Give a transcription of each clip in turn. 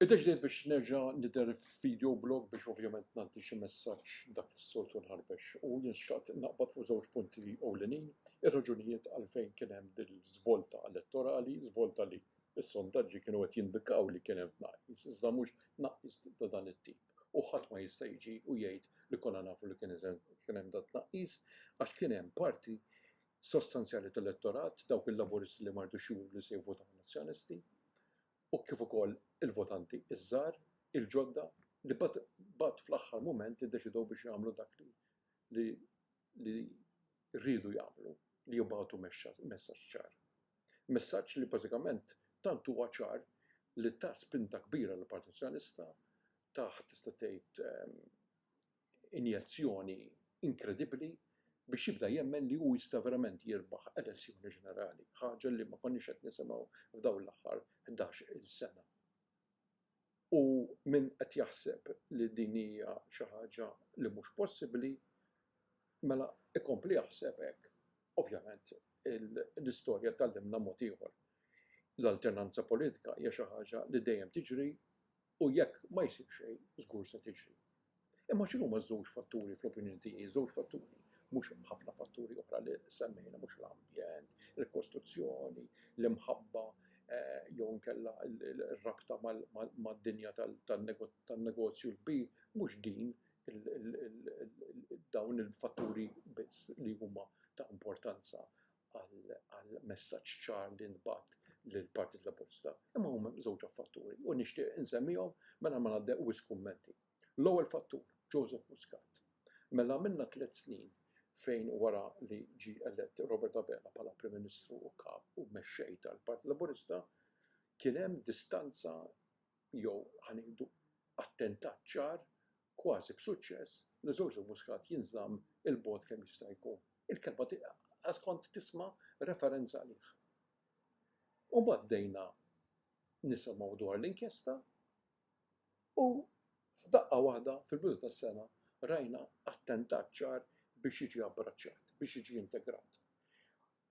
Iddeċidejt biex nerġa' nidher f'video blog biex ovvjament ngħaddi xi messaġġ dak li s-soltu nħarbex u jien xtaqt naqbad fuq żewġ punti ewlenin, ir-raġunijiet għalfejn kien hemm dil-żvolta elettorali, żvolta li s-sondaġġi kienu qed jindikaw li kien hemm tnaqqis iżda mhux tnaqqis ta' dan it-tip u ħadd ma jista' jiġi u jgħid li konna nafu li kien hemm dan it-tnaqqis għax kien hemm parti sostanzjali tal-elettorat, dawk il-Laburisti li ma ridux juru li se jivvotaw għan-Nazzjonisti, u kif ukoll il-votanti iż-żgħar, il-ġodda, li mbagħad fl-aħħar mument iddeċidew biex jagħmlu dak li li riedu jagħmlu, li jibagħtu messaġġ ċar. Messaġġ li bażikament tant huwa ċar li ta spinta kbira lill-Partit Nazzjonalista, tah tista' tgħid injezzjoni inkredibbli biex jibda jemmen li hu jista' verament jirbaħ elezzjoni ġenerali, ħaġa li ma konniex qed nisimgħu f'dawn l-aħħar ħdax-il sena. U min qed jaħseb li din hija xi ħaġa li mhux possibbli, mela ikompli jaħseb hekk. Ovvjament l-istorja tgħallimna mod ieħor. L-alternanza politika hija xi ħaġa li dejjem tiġri U jekk ma jsir xejn, żgur se tiġri. Imma x'inhuma ż-żewġ fatturi fl-opinjoni tiegħi, żewġ fatturi, mhux ħafna fatturi oħra li semmejna, mhux l-ambjent, il-kostruzzjoni, l-imħabba jew inkella r-rabta mad-dinja tan-negozju l-kbir, mhux din dawn il-fatturi biss li huma ta' importanza għal messaġġ ċar li ntbagħat lill-Partit Laburista, imma huma żewġ fatturi u nixtieq insemmihom mela ma ngħaddew wisq kummenti. L-ewwel fattur, Joseph Muscat. Mela għamilna tliet snin fejn wara li ġie elett Robert Abela bħala Prim Ministru u Kap u Mexxej tal-Partit Laburista, kien hemm distanza jew ħa ngħidu attentat ċar kważi b'suċċess, li Żorżu Muscat jinżamm 'il bogħod kemm jista' jkun. Il-kelma qas kont tisma' referenza għalih. U mbagħad bdejna nisimgħu dwar l-inkjesta u f'daqqa waħda fil-bidu tas-sena rajna attentat ċar biex jiġi abbraċċat, biex jiġi integrat.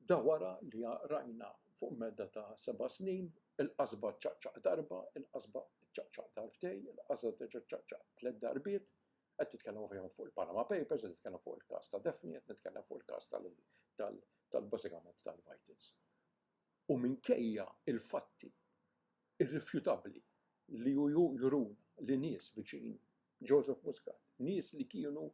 Da wara li rajna fuq medda ta' seba' snin, il-qasba ċċaqċaq darba, il-qasba ċċaqċaq darbtej, il-qasba terġa' ċċaqċaq tliet darbiet, qed nitkellem ovvjament fuq il-Panama Papers, qed nitkellem fuq il-każ ta' Daphne, qed nitkellem fuq il-każ tal tal-bażikament tal-Vitals. U minkejja il-fatti irrifjutabbli li juruna li nies viċin Joseph Muscat, nies li kienu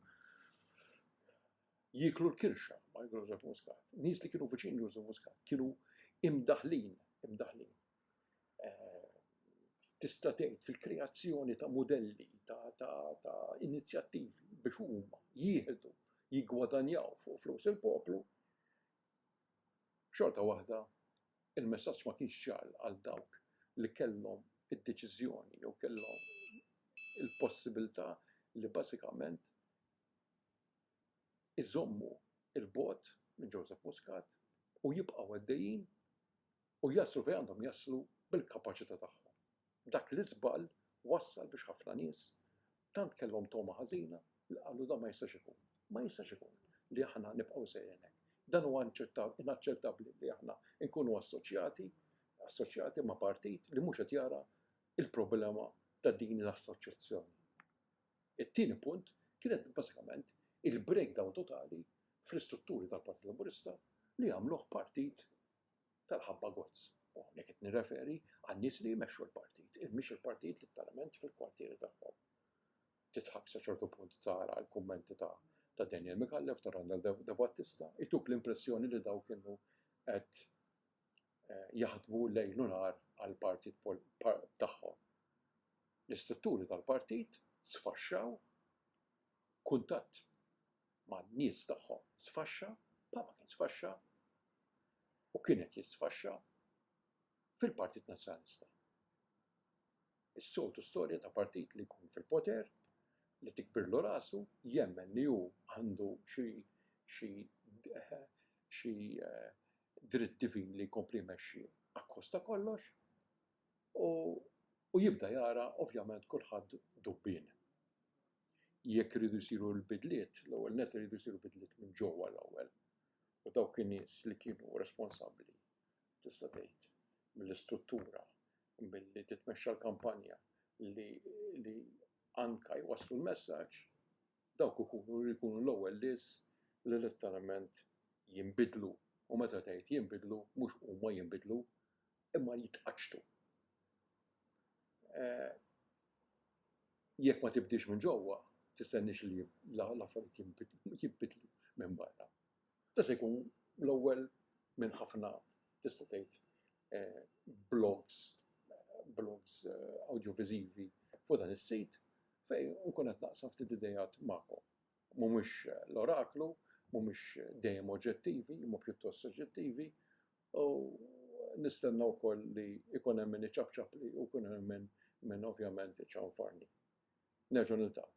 jieklu l-kirxa ma' Joseph Muscat. Nies li kienu viċin Joseph Muscat kienu imdaħlin, imdaħlin. Eh, tista' tgħid fil-kreazzjoni ta' modelli, ta' inizjattivi biex huma jieħdu, jiggwadanjaw fuq flus il-poplu. Xorta waħda, il-messaġġ ma kienx ċar għal dawk li kellhom id-deċiżjoni jew kellhom il-possibilità li bażikament iżommu 'l bogħod minn Joseph Muscat u jibqgħu għaddejjin u jaslu fejn għandhom jaslu bil-kapaċità tagħhom. Dak l-iżball wassal biex ħafna nies tant kellhom togħma ħażina li qalu dan ma jistax ikun. Ma jistax ikun li aħna nibqgħu sejrin hekk. Dan huwa inaċċettabbli li aħna nkunu assoċjati assoċjati ma' partit li mhux qed jara il-problema ta' din l-assoċjazzjoni. It-tieni punt kienet bażikament il-breakdown totali fl-istrutturi tal-Partit Laburista li għamluh partit tal-ħabba gozz. U hawnhekk qed nirreferi għan-nies li jmexxu l-partit, il-mhix il-partit litteralment fil-kwartieri tagħhom. Titħakk sa ċertu punt tara l-kummenti ta' ta' Daniel Mikallef ta' Randall De Battista, ituk l-impressjoni li daw kienu qed eh, jaħdmu lejl u nhar għall-partit tagħhom. L-istrutturi tal-partit sfaxxaw kuntatt ma' nies tagħhom sfaxxa, Papa kien sfaxxa u kienet jisfaxxa fil-Partit Nazzjonalista. Is-soltu storja ta' partit li jkun fil-poter li tikbirlu rasu jemmen li hu għandu xi xi xi eh, dritt divin li jkompli jmexxi akkost ta' kollox u u jibda jara ovvjament kulħadd dubbin. Jekk iridu jsiru l-bidliet, l-ewwel net iridu jsiru bidliet minn ġewwa l-ewwel. U dawk in-nies li kienu responsabbli tista' tgħid mill-istruttura milli titmexxa l-kampanja li li anka jwasslu l-messaġġ Dawk ikunu li jkunu l-ewwel lies li letteralment jinbidlu, u meta tgħid jinbidlu mhux huma jinbidlu imma jitqaċċtu. Jekk ma tibdilx minn ġewwa, tistenniex li l-affarijiet jinbidlu minn barra. Da se jkun l-ewwel minn ħafna tista' tgħid blogs, blogs awdjoviżivi fuq dan is-sit fejn nkun qed naqsam ftit ideat magħkom. Mhumiex l-oraklu, mhumiex dejjem oġġettivi imma pjuttost soġġettivi u nistenna wkoll li jkun hemm min iċapċapli u jkun hemm min ovvjament iċanfarni. Nerġgħu niltaqgħu.